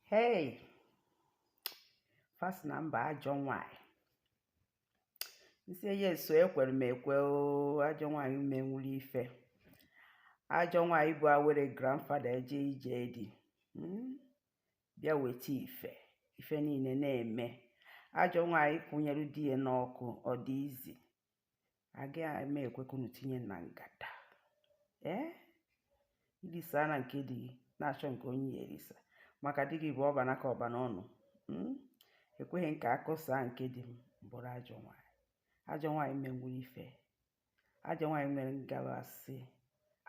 hey first number ajọ nwanyị m sị yes o ekwere m ekwe ajọ nwanyị menwuru ife ajọ nwanyị bụ awere grandfather eje ije di hmm? bịa weta ife ife niile na-eme ajọ nwaanyị kwụnyere di ya n'ọkụ ọ dị easy agaghị m ekwe ka unu tinye na ngada ee irisa na nke di gị na-achọ nke onye ị ya-erisa maka di gị bụ ọ ba n'aka ọ ba n'ọnụ hmm? ekweghị m ka akụsa nke di m m bụrụ ajọ nwaanyị ajọ nwaanyị menwuru ife ajọ nwaanyị nwere ngabasị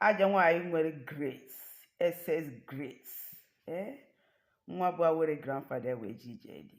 ajọ nwaanyị nwere grace excess grace ee nwa bụ awere grandfather wee je ije di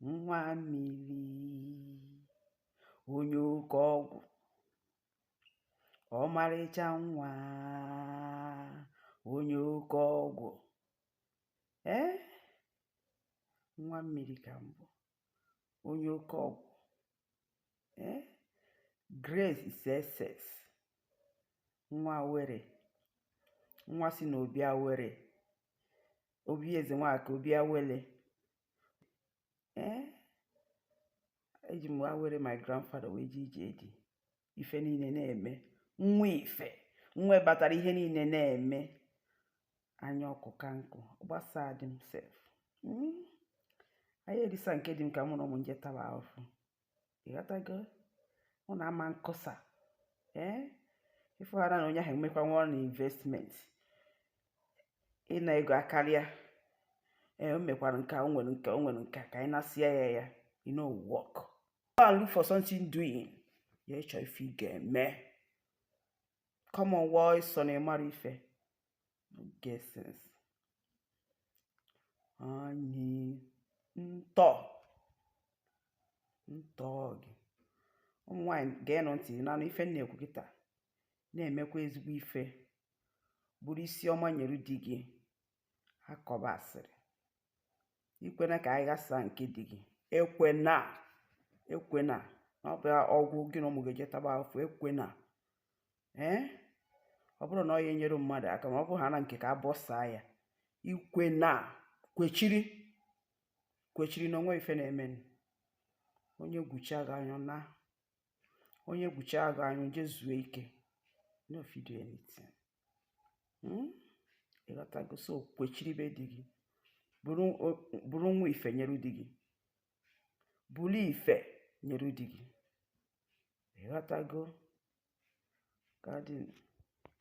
nwa mmiri onye oke ọgwụ ọmarịcha nwa onye oke ọgwụ ee nwa mmiri ka m bụ onye oke ọgwụ ee grace excesses nwa awere nwa si n'obi awere obi eze nwaka obi awele ee eh? eji m awere my grandfather wee je ije di ife niile na-eme nwa ife nwa batara ihe niile na-eme anya ọkụ ka nkụ gbasaa di m sef hmm? anyị erisa nke di m ka mụ na ụmụ m je taba ahụfụ ịghọtago ọ na-ama nkọsa ee ịfụghara na onye ahụ emekwa nwa na investment ịna ego akarịa ee o mekwara nke o nwere nke o nwere nke ka anyị na-asịa ya ya you no work go and look for something doing ya chọ ife ị ga-eme come on wọ ịsọ na ị mara ife guesses anyị ntọ ntọ gị ụmụ nwaanyị geenụ ntị na-anụ ife m na-ekwu kịta na-emekwa ezigbo ife bụrụ isi ọma nyere di gị akọba asịrị ikwena ka a ghasa nke di gị ekwena ekwena ọ bụ ọ gwụ gị na ụmụ gị je taba afụfụ ekwena ee ọ bụrụ na ọ ya enyere mmadụ aka ma ọ bụ ha na nke ka abọsaa ya ikwena kwechiri kwechiri na o nwe ife na-eme onye gwuchaa gị anyụ na onye gwuchaa gị anyụ jee zuo ike no fit do anything hmm? ịghọtago so kwechiri be di gị bụrụ nwa ife nyere di gị bụrụ ife nyere di gị ịghọtago gadin